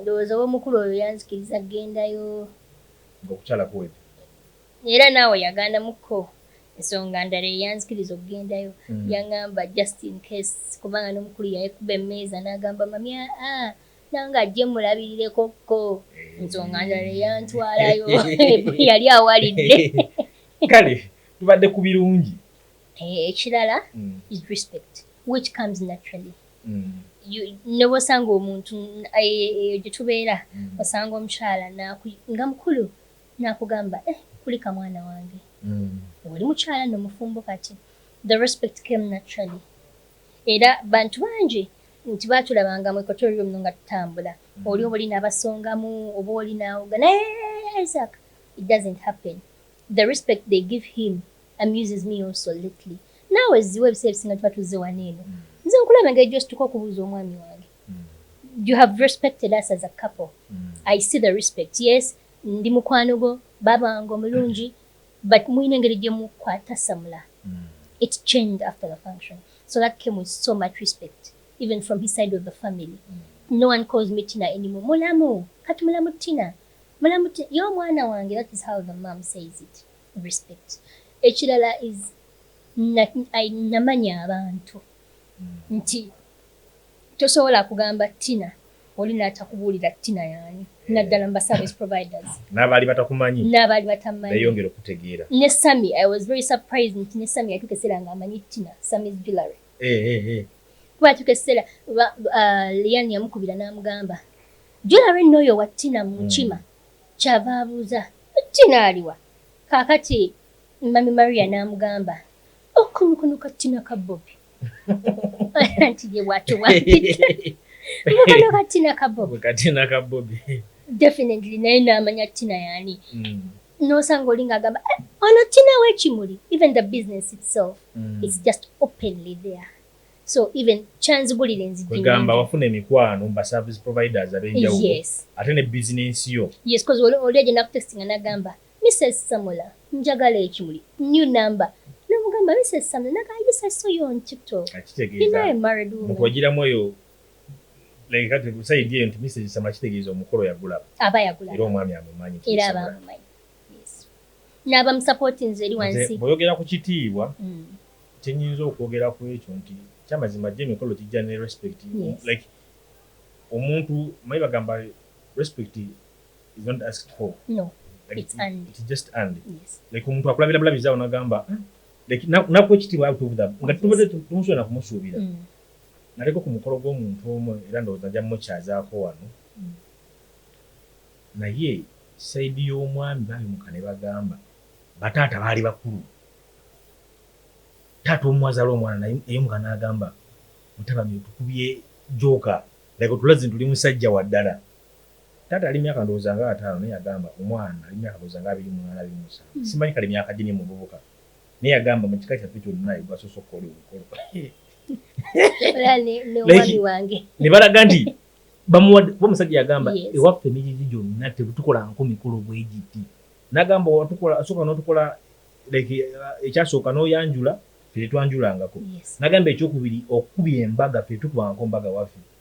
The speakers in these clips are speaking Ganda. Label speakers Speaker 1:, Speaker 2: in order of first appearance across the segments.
Speaker 1: Ndowooza oba omukulu oyo yanzikiriza kugendayo. Ng'okukyala
Speaker 2: kuwedde. Era
Speaker 1: naawe yagandamuko ensonga ndala eyanzikiriza okugendayo. Yang'amba just in case kubanga n'omukulu yayekuba emmeeza n'agamba mami aa nange ajje mmulabirireko-ko. Ensonga ndala eyantwalayo yali awalidde. Kale
Speaker 2: tubadde ku birungi. Ekirala
Speaker 1: is respect which comes naturally. ne bw'osanga omuntu eyo gye tubeera osanga omukyala nga mukulu n'akugamba eh kulika mwana wange oli mukyala nno mufumbo kati the respect came naturally era bantu bangi nti baatulabanga mu ekoto lyo muno nga tutambula mm. oli oba oli n'abasongamu oba oli n'awoga naye isaac it doesn't happen the respect they give him amuses me also lately Naawe zziwa ebiseera ebisinga tuba tuzze wano eno. Nze nkulaba engeri gy'osituka okubuuza omwami wange. You have respected us as a couple. I see the respect. Yes, ndi mukwano gwo, baaba wange omulungi, but mulina engeri gye mukwatassamula. It changed after the function. So that came with so much respect, even from his side of the family. No one calls me Tina anymore. Mulamu, kati mulamu Tina. Mulamu Tina, yo mwana wange, that is how the mom says it. Respect. Ekirala is Namanya abantu nti tosobola kugamba Tina oli natakubuulira Tina yani eh. naddala mu service providers n'abaali batakumanyi
Speaker 2: n'abaali batamanyi
Speaker 1: beyongera okutegeera
Speaker 2: ne Sami I was
Speaker 1: very surprised nti ne Sami yatuuka ekiseera nga amanyi Tina Sami's jewelry eh, eh, eh. kuba yatuuka ekiseera uh, Lian yamukubira n'amugamba jewelry n'oyo wa Tina mu nkima hmm. kyava abuuza Tina aliwa kaakati Mummy Maria n'amugamba, oh, kano kano kattina ka Bobi. Anti ye bw'atyo bw'ampita. Mbu kano kattina ka Bobi. Kattina ka Bobi. Definitely naye n'amanya Tina y'ani. Mm. N'osanga oli ng'agamba, eh, ono Tina w'ekimuli. Even the business itself, mm. it's just openly there. so even kyanzigulira enzigigamba wafuna
Speaker 2: emikwano mba service providers abenjawulo yes. ate ne bizinensi yo yes bcause oli agenda
Speaker 1: kutestinga nagamba Mister Samula njagala ekimuli new number nomugamba Mister Samula naga I just I saw you on TikTok you know a married
Speaker 2: woman mukwajira mweyo like kati kusayidi eyo nti Mister Samula kitegeeza omukolo yagulaba aba yagulaba era omwami amumanyi era aba amumanyi
Speaker 1: yes naba musapoti nze eri wansi boyogera ku kitiibwa
Speaker 2: mm. kyenyinza okwogera ku ekyo nti kyamazima jje emikolo kijja ne respect yes. like omuntu mayi bagamba respect omuntu akulabira
Speaker 1: bulabizi
Speaker 2: awo nagamba hmm, nakuwa ekitiibwa nga tubadde tumusuubira nakumusuubira hmm. naleko ku mukolo gw'omuntu omu era ndowooza nja mukyazaako wano hmm. naye saidi y'omwami babimuka ne bagamba bataata baali bakulu taata omuwazala omwana naye eyomuka n'agamba mutabani otukubye jooka like otulazi nti oli musajja waddala Taata yali myaka ndowooza nga ataano naye yagamba omwana nali myaka ndowooza nga abiri mw'ana abiri musanvu simanyi kale myaka gye ne muvubuka naye yagamba mu kika kyaffe kyonna ye gwasoose okukola omukolo ne balaga nti bamuwadde kuba omusajja yagamba ewaffe emijiji gyonna tetukolanko mikolo bwegiti nagamba asooka notukola uh, ekyasooka noyanjula fetetwanjulangako nagamba ekyokubiri okukuba embaga fetukubanko mbaga waffe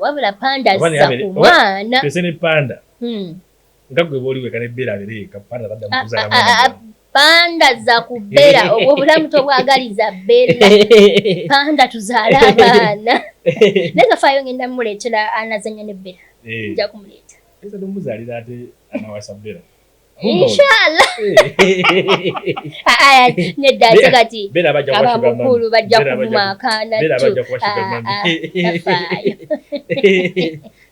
Speaker 2: wabula
Speaker 1: panda azza ku mwana pese ne panda
Speaker 2: hmm. nga gwe boli weka ne bera bere ka panda labda mkuza ya mwana panda za
Speaker 1: kubera obwo bulamu tobwagaliza bera panda tuzala abana neza fayo ngenda muletera anazanya ne bera eh. nja kumuleta pesa domuzalira
Speaker 2: ate anawasa bera
Speaker 1: inshallah aya nedda ate kati
Speaker 2: abamukulu
Speaker 1: bajja kuvuma akaana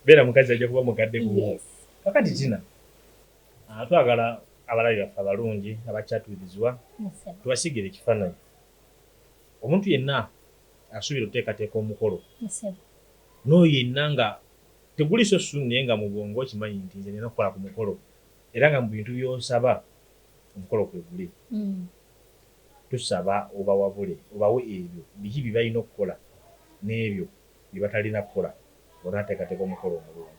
Speaker 2: beera mukazi ajja kuba mukadde gumu kakati tina ah, twagala abalabi baffe abalungi abakyatubirizibwa tubasigire ekifaananyi omuntu yenna asuubira oteekateeka omukolo n'oyo yenna nga teguliso sunnaye nga mu bwongo okimanyi nti nze nina okukola ku mukolo Era nga mu bintu by'osaba omukolo kwe guli, tusaba obawabule obawe ebyo biki bye balina okukola n'ebyo bye batalina kukola nga tonnateekateeka omukolo omulungi.